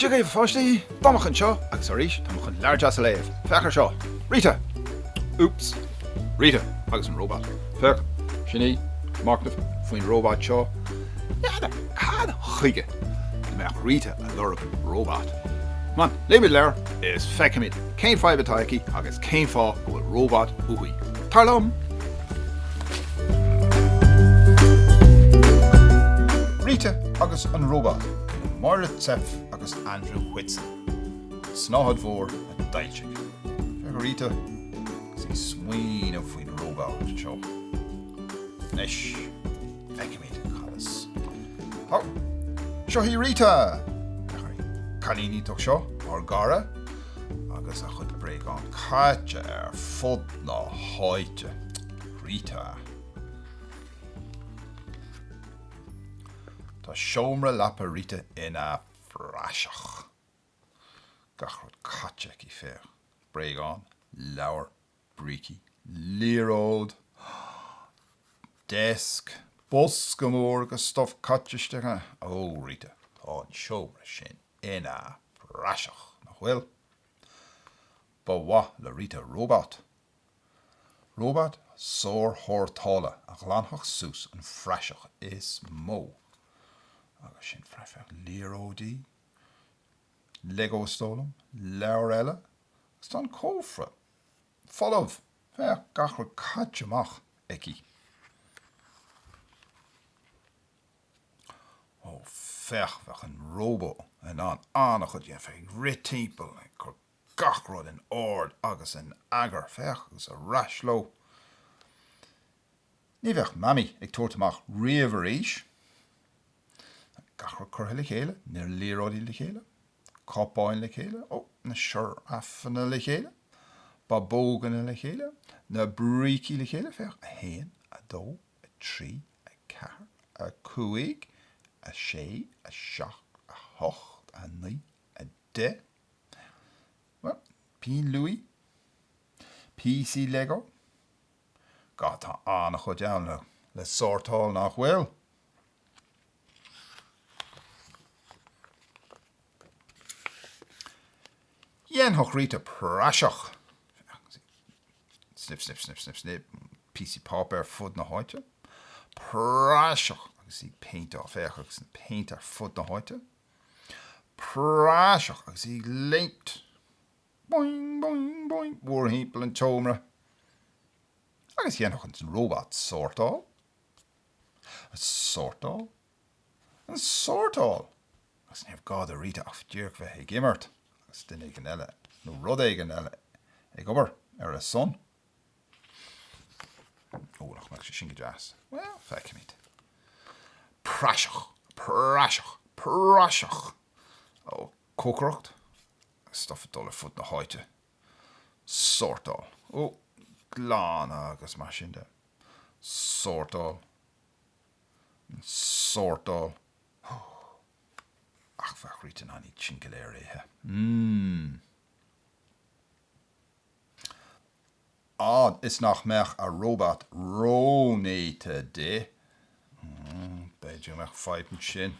Dia dhaoibh a pháistí! Domhnach anseo agus arís tá mé chun leabhar deas a léamh. Féach ar seo! Rita! Úps. Rita agus an Róbat. Féach, sin í, machnamh faoin róbat seo, n'fheadar cad chuige a mbeadh Rita ag lorg róbat? Come on, léimid leabhar is feicfimid cén fadhb atá aici agus cén fáth go bhfuil róbat uaithi. Tar liom! Rita agus an Róbat, le Máire Zepf agus Andrew Whitson. An tSnáthaid Mhór a d'fhoilsigh. Féach ar Rita. is í ag smaoineamh faoin róbat seo. Anois, feicimid cad is. Há! Seo í Rita! An cailín iontach seo, ár gcara, agus a chuid bréagán caite ar fud na háite. Rita. Tá seomra leapa Rita ina phraiseach. Gach rud caite aici, féach, bréagán, leabhar, brící, liathróid! Deasc! Bosca mór agus stuif caite isteach ann. Ó, Rita, tá an seomra sin ina phraiseach, nach bhfuil? Ba mhaith le Rita róbat. Róbat sárshórtála a ghlanfadh suas an phraiseach is mó. Agus sin praiseach liathróidí. Lego stól ann, leabhair eile, agus tá an cófra folamh, féach, gach rud caite amach aici. Ó, féach, bheadh an róbó in ann an-chuid a dhéanamh, ag rith timpeall, ag cur gach rud in ord agus in eagar, féach, agus ar ais leo. Ní bheadh Mamaí ag tabhairt amach riamh arís. Gach rud curtha le chéile, na liathróidí le chéile, cupáin le chéile, ó, na siorafanna le chéile, babóganna le chéile, na brící le chéile, féach, a haon, a dó, a trí, a ceathair, a cúig, a sé, a seacht, a hocht, a naoi, a deich, bhuel, pinn luaidhe, píosaí Lego. Ga, Tá an-chuid ann le sórtáil, nach bhfuil? Dhéanfadh Rita praiseach! Snip, snip, snip, snip, snip, píosaí páipéir ar fud na háite. Praiseach! Agus í ag péinteáil, féach, agus an péint ar fud na háite. Praiseach! Agus í ag léimt. Boing, boing, boing, mórthimpeall an tseomra. Agus dhéanfadh an róbat sórtáil. An sórtáil. An sórtáil! Agus ní raibh gá do Rita ach díreach a bheith ag imirt agus duine éigin eile, nó rud éigin eile, ag obair ar a son. Ó, nach mbeadh sé sin go deas. Bhuel, feicfimid. Praiseach! Praiseach! Praiseach! Ó, cócaireacht. stuif ag dul ar fud na háite, sórtáil, ó, glanadh agus mar sin de, sórtáil, sórtáil, ó, ach bheadh Rita in ann iad sin go léir a ithe, mm, á, is nach mbeadh a róbat rónéata di, mm, b'fhéidir go mbeadh fadhb ansin.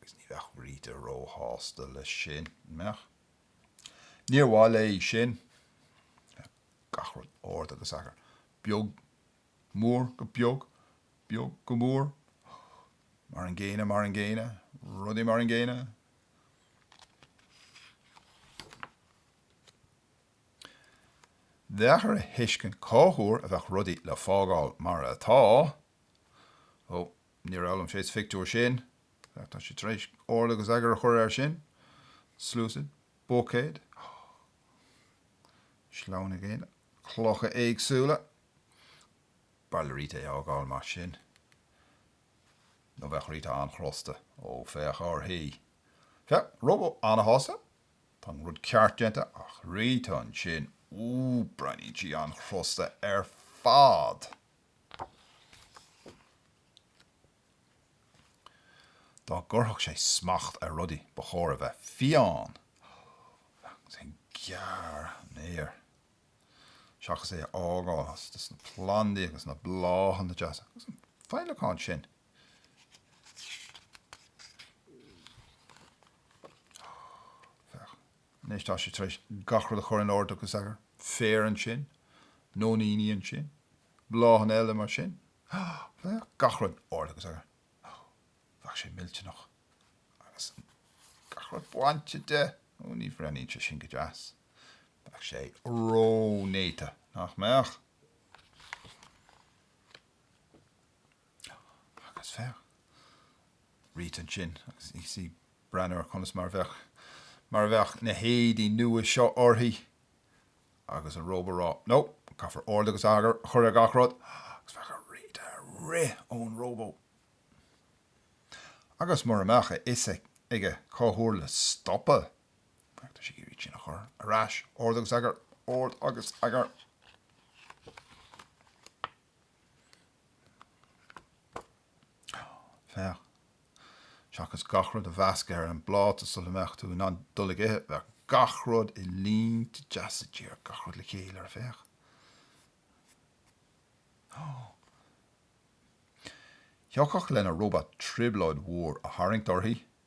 Agus ní bheadh Rita róshásta leis sin, an mbeadh? Níor mhaith léi sin. Gach rud, ord agus eagar, beag, mór go beag, beag go mór, mar an gcéanna, mar an gcéanna, rudaí mar an gcéanna. Bheadh air a thuiscint cá huair a bheadh rudaí le fágáil mar atá. Ó, Níor fhoghlaim sé sa phictiúr sin. Féach, tá sé tar éis ord agus eagar a chur air sin. Sluasaid. Buicéad. Caisleán gainimh, clocha éagsúla. B'fhearr le Rita é a fhágáil mar sin. Nó bheadh Rita an-chrosta. Ó, féach uirthi. Féach, róbat an-shásta. Tá an rud ceart déanta, ach Rita ansin, úúú, breathnaíonn sí an-chrosta ar fad. Dá gcuirfeadh sé smacht ar rudaí ba chóir a bheith fiáin agus é ag gearradh an fhéir seachas é a fhágáil agus na plandaí agus na bláthanna deasa agus an féileacán sin. Féach. Anois tá sé tar éis gach rud a chur in ord agus eagar, féar ansin, nóiníní ansin, bláthanna eile mar sin. Gach rud in ord agus eagar. Bheadh sé millte, nach. Agus gach rud bainte de. Ó, ní bhreathnaíonn sé sin go deas. Bheadh sé ró-néata, nach mbeadh? Agus féach! Rita ansin agus ansin breathnaigh ar conas mar a bheadh, mar a bheadh na héadaí nua seo uirthi agus an róbat ag rá no, caithfear ord agus eagar a chur ar gach rud agus bheadh Rita ag rith ón róbat agus mura mbeadh a fhios aige cá huair le stopadh, bheadh sé ag iarraidh sin a chur ar ais, ord agus eagar, ord agus eagar. Féach. Seachas gach rud a mheascadh ar an bpláta sula mbeadh tú in ann dul ag ithe, bheadh gach rud i línte deasa díreach, gach rud le chéile air féach. Thiocfadh lena róbat trioblóid mhór a tharraingt uirthi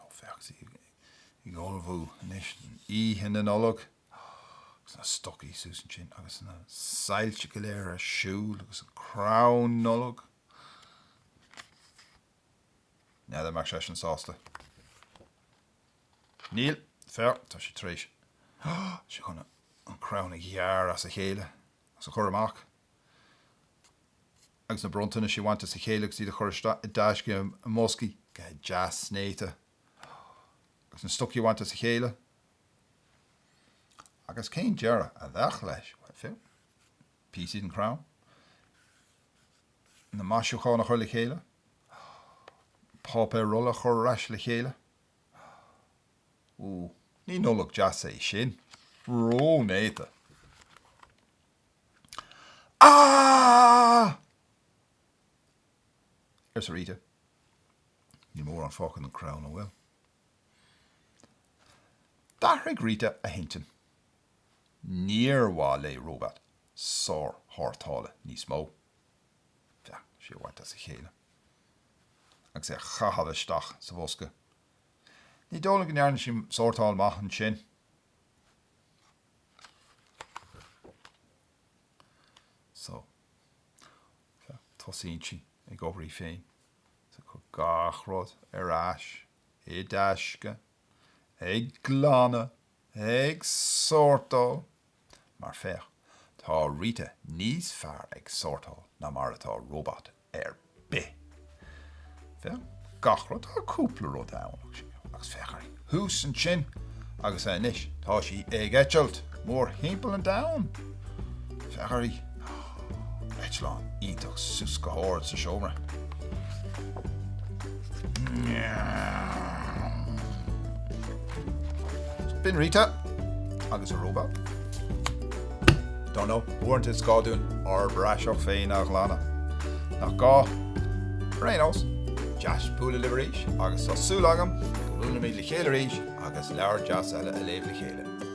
Ó, féach í ag ullmhú anois d'oíche Nollag agus na stocaí suas ansin agus na soilse go léir ar siúl agus an crann Nollag. N'fheadar an mbeadh seisean sásta. Níl, féach, tá sé tar éis, tá sé chun an crann a ghearradh as a chéile. is a chur amach agus na bronntanais a bhaint as a chéile agus iad a chur isteach i dtaisce i mboscaí go deas néata agus na stocaí a bhaint as a chéile agus cén deireadh a bheadh leis? Féach, píosaí den chrann, na maisiúcháin a chur le chéile, páipéar rolla a chur ar ais le chéile. Ó, ní Nollaig deas é sin. Ró-néata. Aaahh! arsa Rita. Níl mórán fágtha den chrann, an bhfuil? D'athraigh Rita a hintinn. Níor mhaith léi róbat sár-shórtála níos mó. B'fhearr é a bhaint as a chéile agus é a chaitheamh isteach sa bhosca. Ní dóigh liom go ndearna sí sórtáil maith ansin. So. Tosaíonn sí ag obair í féin. Sea. Cur gach rud ar ais i dtaisce. Ag glanadh! ag sórtáil, mar féach, tá Rita níos fearr ag sórtáil ná mar atá róbat ar bith. Féach, gach rud, tá cúpla rud ann, agus féach uirthi thuas ansin, agus anois tá sí ag eitilt mórthimpeall an domhain. Féach uirthi. eitleán iontach thuas go hard sa seomra. B'in Rita agus a róbat. Don't know, uaireanta is gá dúinn ár bpraiseach féin a ghlanadh, nach gá? Ar aon nós, deas bualadh libh arís agus tá súil agam go mbuailimid le chéile arís agus leabhar deas eile a léamh le chéile.